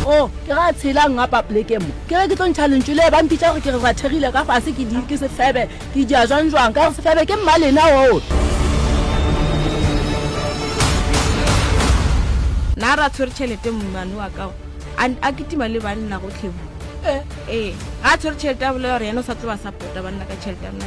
o oh, ke ga tshela nga papleke mo ke re ke tlo ntšha lentšu le ba mpitša gore ke re rathegile ka fase ke di ke sefebe ke dia jwang jwang ka gore sefebe ke mmalena oo nna ra tshwere tšhelete mmane wa kao a ketima le banna go tlhebo ee eh, eh. ga a tshwere tšhelete a bolela gore yena o sa tseba sapota banna ka tšhelete a mna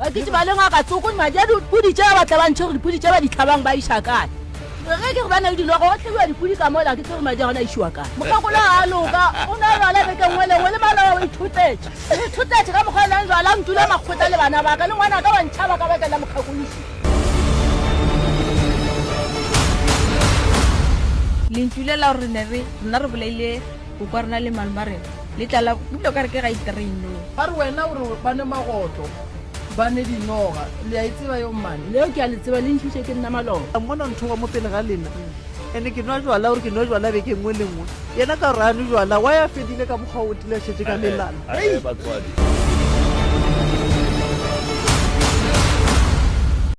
bakiti ba le ngaka tsoko ni madi a dipudi tša ba tlabantšhe gore dipudi tša ba ditlhabang ba iša kae re ge ke gore ba na le dilo go tlhebiwa dipudi ka mola ke tse gore madi a gona a išiwa kae mokgakolo a loka o ne a lwala beke nngwe lengwe le maloa o ithutetše o ithutetše ka mokgwa o nang lwala ntula makgota le bana baka le ngwana ka wa ntšhaba ka bakela mokgakolosi lentšu le la gore ne re rena re bolaile O kwa rena le malome a rena le tlala ebile o ka re ke ga iterei no. A re wena o re ba nwe magotlo ba nwe dinoga le a e tseba yeo mmane. Leo ke a le tseba le ntšhutše ke nna maloba. A mmona nthoba mo pele ga lena ene ke nwa jwala o re ke nwe jwala beke nngwe le nngwe yena ka gore a nwe jwala why a fedile ka mokgwa o tile a šetše ka melana hei.